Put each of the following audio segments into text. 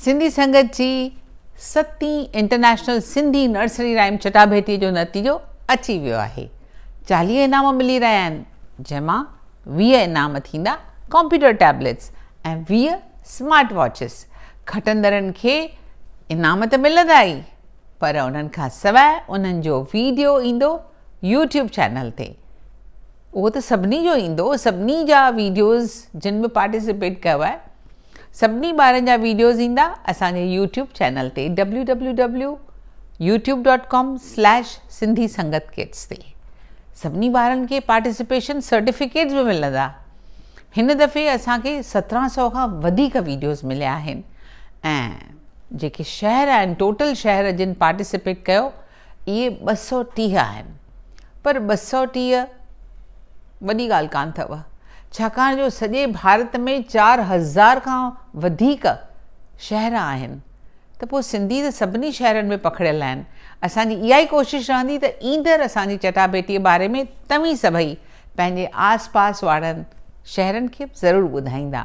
سنڌي سنگت جي ستين international Sindhi nursery rhyme چٽاڀيٽي جو نتيجو اچي ويو آهي چاليهه انعام ملي رهيا آهن جنهن مان ويهه انعام ٿيندا ڪمپيوٽر ٽيبليٽس ۽ ويهه سمارٽ واچز کٽندڙن کي انعام ته ملندا ئي پر انهن کان سواء انهن جو ويڊيو ايندو يوٽيوب چينل تي اهو ته سڀني جو ايندو سڀني جا ويڊيوز جن به پارٽيسپيٽ ڪيو آهي سڀني ٻارن جا ويڊيوز ايندا اسان جي يوٽيوب چينل تي W W W YouTube dot com slash Sindhi Sangat kids تي سڀني ٻارن کي پارٽيسپيشن سرٽيفڪيٽس به ملندا هن دفعي اسان کي سترهن سو کان وڌيڪ ويڊيوز مليا آهن ۽ جيڪي شهر آهن ٽوٽل شهر جن پارٽيسپيٽ ڪيو اهي ٻه سؤ ٽيهه آهن، پر ٻه سؤ ٽيهه وڏي ڳالهه ڪانه اٿئو، ڇاڪاڻ جو سڄي ڀارت ۾ چار هزار کان وڌيڪ شهر آهن، ته پوء سنڌي ته سڀني شهرن ۾ پکڙيل آهن. اسان جي اها ئي ڪوشش رهندي ته ايندڙ اسان جي چٽاڀيٽيء باري ۾ توهين سڀئي پنهنجي آس پاس وارن شهرن کي به ضرور ٻڌائيندا.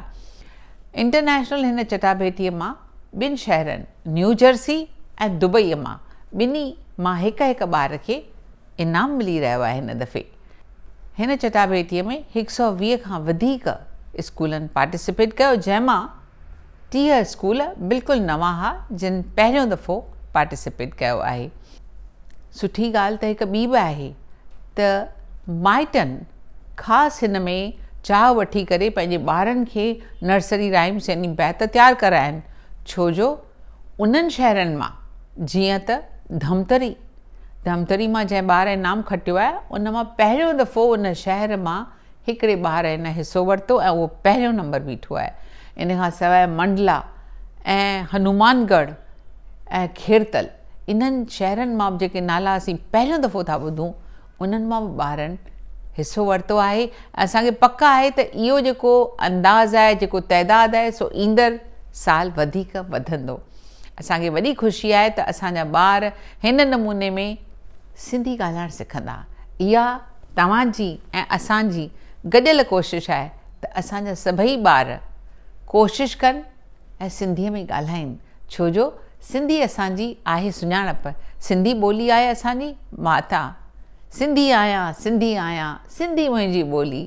انٽرنيشنل هن چٽاڀيٽيء مان ٻن شهرن نيوجرسي ۽ دبئي مان ٻنهي مان هڪ هڪ ٻار کي انعام ملي رهيو آهي هن دفعي هن چٽاڀيٽي ۾ هڪ سؤ ويهه کان وڌيڪ اسڪولن پارٽيسپيٽ ڪيو جنهن مان ٽيهه اسڪول بلڪل نوان ها جن پهريون دفعو پارٽيسپيٽ ڪيو آهي سٺي ڳالهه ته هڪ ٻي به آهي ته مائٽن خاص هن ۾ چاهه وٺي ڪري پنهنجي ٻارن کي نرسري رائمس يعني بيت تيار ڪرائن ڇو جو انهن شهرن مان جيئن ته ڌمتري ڌمتري مان جنهن ٻار انعام کٽيو آهي ان مان پهريون دفعو ان شهر مان هڪڙي ٻار هن حصو ورتو ۽ اهو پهريون نمبر بيٺو آهي. ان کان سواء منڊلا ۽ هنومان ڳڙهه ۽ کيرتل انهن شهرن مان به جيڪي نالا اسين پهريون دفعو ٿا ٻڌون انهن مان به ٻارن حصو ورتو آهي ۽ اسان کي پڪ آهي ته اهو جيڪو انداز آهي جيڪو تعداد آهي سو ايندڙ سال وڌيڪ وڌندو. اسان کي وڏي خوشي آهي ته اسان جا ٻار هن نموني ۾ سنڌي ڳالهائڻ سکندا. اها توهان جي ۽ اسان جي گڏيل ڪوشش آهي ته اسان جا سڀئي ٻار ڪوشش ڪن ۽ سنڌيء ۾ ڳالهائين، ڇو جو سنڌي اسان جي آهي سڃاڻپ، سنڌي ٻولي آهي اسان جي ماتا، سنڌي آهيان، سنڌي آهيان، سنڌي منهنجي ٻولي،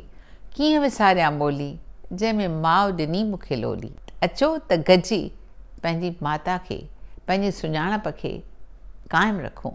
ڪيئن وساريان ٻولي، جنهن ۾ ماء ڏني مون کي لولي. اچو ته گڏجي پنهنجي ماتا کي، پنهنجي سڃاڻپ کي قائم رکون.